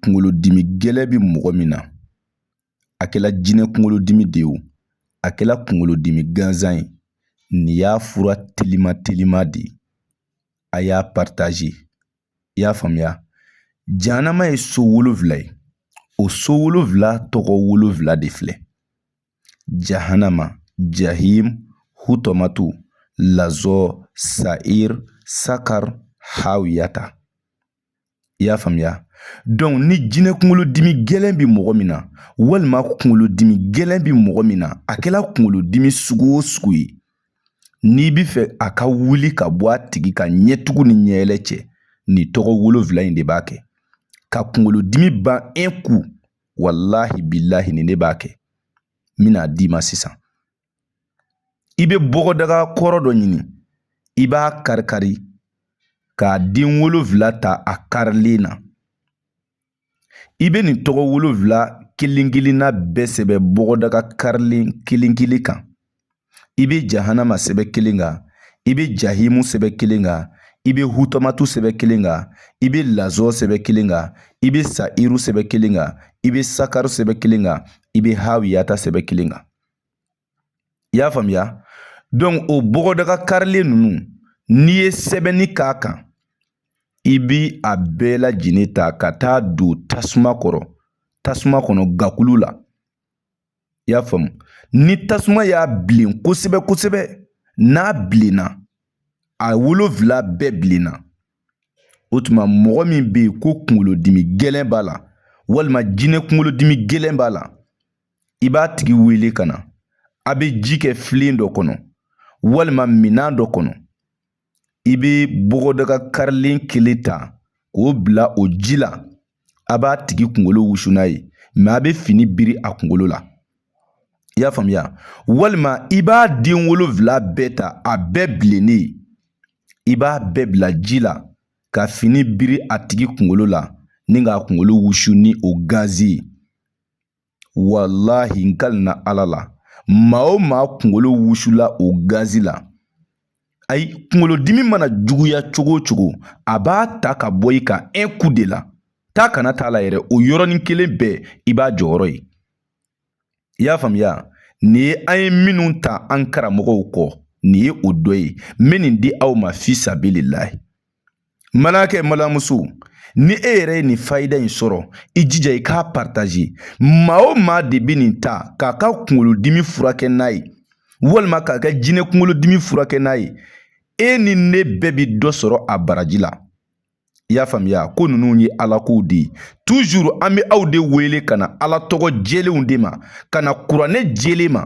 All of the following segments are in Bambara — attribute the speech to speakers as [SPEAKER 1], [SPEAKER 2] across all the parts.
[SPEAKER 1] kunkolodimi gɛlɛn bɛ mɔgɔ min na a kɛla jinɛ kunkolodimi de ye o a kɛla kunkolodimi gansan ye nin y'a fura telima telima de ye a y'a partage i y'a faamuya jahanama ye so wolonwula ye o so wolonwula tɔgɔ wolonwula de filɛ jahanama jahim hutamatu lazɔ sair sakar hawiyata i y'a faamuya donc ni jinɛ kunkolodimi gɛlɛn bɛ mɔgɔ min na walima kunkolodimi gɛlɛn bɛ mɔgɔ min na a kɛla kunkolodimi sugu o sugu ye n'i bɛ fɛ a ka wuli ka bɔ a tigi kan ɲɛtugu ni ɲɛɛlɛ cɛ nin tɔgɔ wolonfila in de b'a kɛ ka kunkolodimi ban un coup walahi bilahi nin de b'a kɛ n bɛna d'i ma sisan i bɛ bɔgɔdaga kɔrɔ dɔ ɲini i b'a karikari k'a den wolonfila ta a karilen na i bɛ nin tɔgɔ wolonfila kelen kelenna bɛɛ sɛbɛn bɔgɔdaga karilen kelen kelen kan i bɛ jahanama sɛbɛn kelen kan i bɛ jahimu sɛbɛn kelen kan i bɛ hutamatu sɛbɛn kelen kan i bɛ lazɔ sɛbɛn kelen kan i bɛ sairu sɛbɛn kelen kan i bɛ sakaru sɛbɛn kelen kan i bɛ hawiyata sɛbɛn kelen kan i y'a faamuya donc o bɔgɔdaga karilen ninnu n'i ye sɛbɛnni k'a kan i b'a bɛɛ lajɛlen ta ka taa don tasuma kɔrɔ tasuma kɔnɔ gakulu la i y'a faamu ni tasuma y'a bilen kosɛbɛ kosɛbɛ n'a bilenna a wolonfila bɛɛ bilenna o tuma mɔgɔ min bɛ yen ko kunkolodimi gɛlɛn b'a la walima jinɛ kunkolodimi gɛlɛn b'a la i b'a tigi wele ka na a bɛ ji kɛ filen dɔ kɔnɔ walima minan dɔ kɔnɔ i bɛ bɔgɔdaga karilen kelen ta k'o bila o ji la a b'a tigi kunkolo wusu n'a ye mais a bɛ fini biri a kunkolo la i y'a faamuya walima i b'a den wolonfila bɛɛ ta a bɛɛ bilennen i b'a bɛɛ bila ji la ka fini biri a tigi kunkolo la ni k'a kunkolo wusu ni o gazi ye walahi n kalina ala la maa o maa kunkolo wusula o gazi la ayi kunkolodimi mana juguya cogo o cogo a b'a ta ka bɔ i kan un coup de la taa kana t'a la yɛrɛ o yɔrɔnin kelen bɛɛ i b'a jɔyɔrɔ ye i y'a faamuya nin ye an ye minnu ta an karamɔgɔw kɔ nin ye o dɔ ye n bɛ nin di aw ma fi sabililahi Balimakɛ balimamuso ni e yɛrɛ ye nin fayida in sɔrɔ i jija i k'a pataze maa o maa de bɛ nin ta k'a ka kunkolodimi furakɛ n'a ye walima k'a ka jinɛ kunkolodimi furakɛ n'a ye e ni ne bɛɛ bɛ dɔ sɔrɔ a baraji la i y'a faamuya ko ninnu ye ala kow de ye tuzuru an bɛ aw de wele ka na ala tɔgɔ jɛlenw de ma ka na kuranɛ jɛlen ma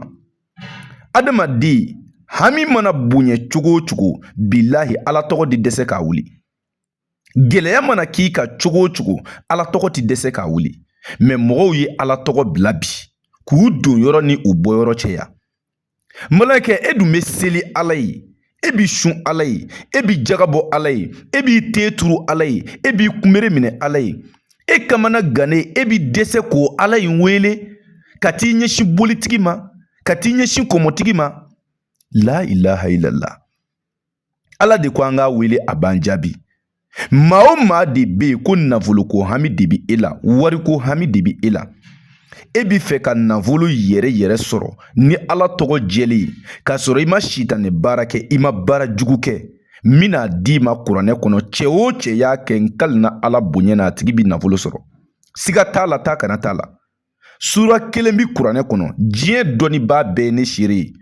[SPEAKER 1] adamaden hami mana bonya cogo o cogo bilahi ala tɔgɔ ti dɛsɛ k'a wuli gɛlɛya mana k'i kan cogo o cogo ala tɔgɔ ti dɛsɛ k'a wuli mɛ mɔgɔw ye ala tɔgɔ bila bi k'u donyɔrɔ ni u bɔyɔrɔ cɛya balimakɛ e dun bɛ seli ala ye e b'i sun ala ye e bi jaga bɔ ala ye e b'i ten turu ala ye e b'i kunbere minɛ ala ye e kamanagannen e bi dɛsɛ k'o ala in wele ka t'i ɲɛsin bolitigi ma ka t'i ɲɛsin kɔmɔtigi ma la ilaha illallah ala de ko an k'a wele a b'an jaabi maa o maa de bɛ yen ko nafoloko hami de bɛ e la wariko hami de bɛ e la e bi fɛ ka nafolo yɛrɛ yɛrɛ sɔrɔ ni ala tɔgɔ jɛlen ye k'a sɔrɔ i ma sitanɛ baara kɛ i ma baara jugu kɛ n bɛn'a d'i ma kuranɛ kɔnɔ cɛ o cɛ y'a kɛ n kalina ala bonya na a tigi bɛ nafolo sɔrɔ siga t'a la taa ka na t'a la sura kelen bi kuranɛ kɔnɔ diɲɛ dɔnnibaa bɛɛ ye ne seere ye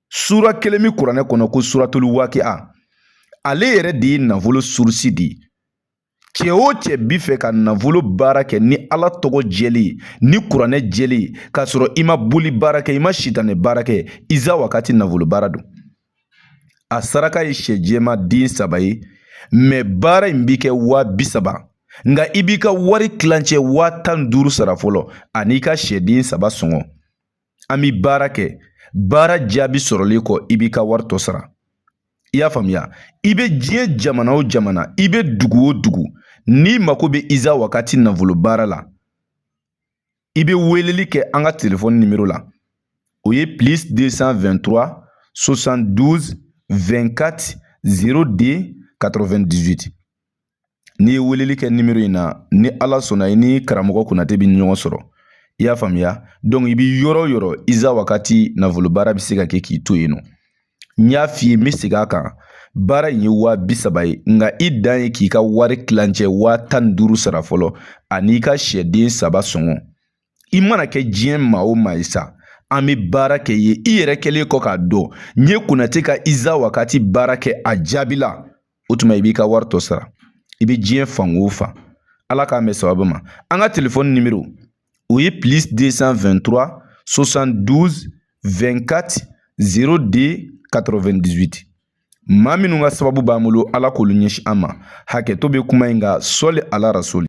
[SPEAKER 1] sura kelen bi kuranɛ kɔnɔ ko suratulu waakia ale yɛrɛ de ye nafolo surusi de ye cɛ o cɛ bi fɛ ka nafolo baara kɛ ni ala tɔgɔ jɛlen ye ni kuranɛ jɛlen ye k'a sɔrɔ i ma boli baara kɛ i ma sitanɛ baara kɛ iza wakati nafolo baara don a saraka ye sɛ jɛma den saba ye mɛ baara in bi kɛ waa bi saba nka i b'i ka wari tilancɛ waa tan ni duuru sara fɔlɔ an'i ka sɛden saba sɔngɔ an bi baara kɛ baara jaabi sɔrɔlen kɔ i b'i ka wari tɔ sara i y'a faamuya i bɛ diɲɛ jamana o jamana i bɛ dugu o dugu n'i mako bɛ iza wakati nafolo baara la i bɛ weleli kɛ an ka telefɔni nimero la o ye plus 223 72 24 02 98 n'i ye weleli kɛ nimero in na ni ala sɔnna i ni karamɔgɔ konate bɛ ɲɔgɔn sɔrɔ i y'a faamuya dɔnku i bɛ yɔrɔ o yɔrɔ iza wakati nafolo baara bɛ se ka kɛ k'i to yen nɔ n y'a f'i ye n bɛ segin a kan baara in ye waa bi saba ye nka i dan ye k'i ka wari tilancɛ waa tan ni duuru sara fɔlɔ an'i ka sɛden saba sɔngɔ i mana kɛ diɲɛ maa o maa ye sa an bɛ baara k'i ye i yɛrɛ kɛlen kɔ k'a dɔn n ye konate ka iza wakati baara kɛ a jaabi la o tuma i b'i ka wari tɔ sara i bɛ diɲɛ fan o fan ala k'an bɛn sababu ma an ka telefɔni nimero o ye plus 223 72 24 02 98 maa minnu ka sababu b'an bolo ala k'olu ɲɛsin an ma hakɛto bɛ kuma in kan sɔli ala rasuli